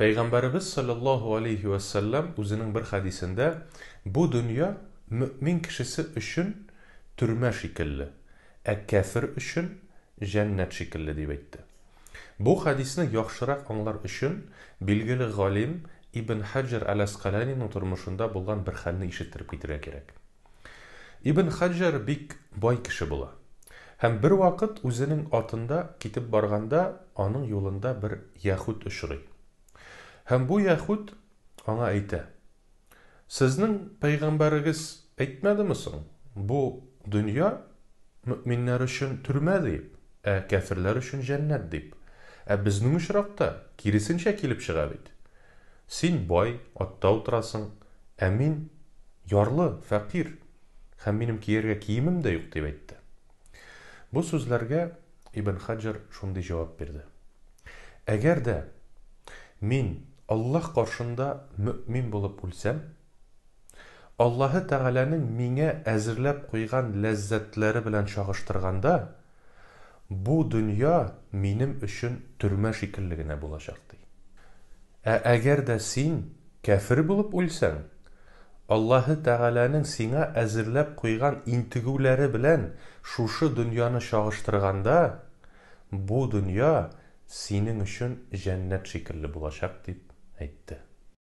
Пәйгамбәребез салләллаһу галәйһи вә сәлләм үзенең бер хәдисендә, Бу дөнья мөэмин кешесе өчен төрмә шикелле, ә кяфер өчен җәннәт шикелле, дип әйтте. Бу хәдисне яхшырак аңлар өчен, билгеле галим Ибн Хаҗҗар әл-Әскаланиның тормышында булган бер хәлне ишеттереп китәргә кирәк. Ибн Хаҗҗар бик бай кеше була. Һәм бервакыт үзенең атында китеп барганда, аның юлында бер яһүд очрый. Һәм бу яһүд аңа әйтә, Сезнең пәйгамбәрегез әйтмәдеме соң, бу дөнья мөэминнәр өчен төрмә дип, ә кяферләр өчен җәннәт дип. Ә безнең очракта киресенчә килеп чыга бит. Син бай, атта утырасың, ә мин, ярлы, фәкыйрь, һәм минем кияргә киемем дә юк, дип әйтте. Бу сүзләргә Ибн Хаҗҗар шундый җавап бирде, Әгәр дә мин Аллаһ каршында мөэмин булып үлсәм, Аллаһы Тәгаләнең миңа әзерләп куйган ләззәтләре белән чагыштырганда, бу дөнья минем өчен төрмә шикелле генә булачак, ди. Ә әгәр дә син кяфер булып үлсәң, Аллаһы Тәгаләнең сиңа әзерләп куйган интегүләре белән шушы дөньяны чагыштырганда, бу дөнья синең өчен җәннәт шикелле булачак, дип әйтте.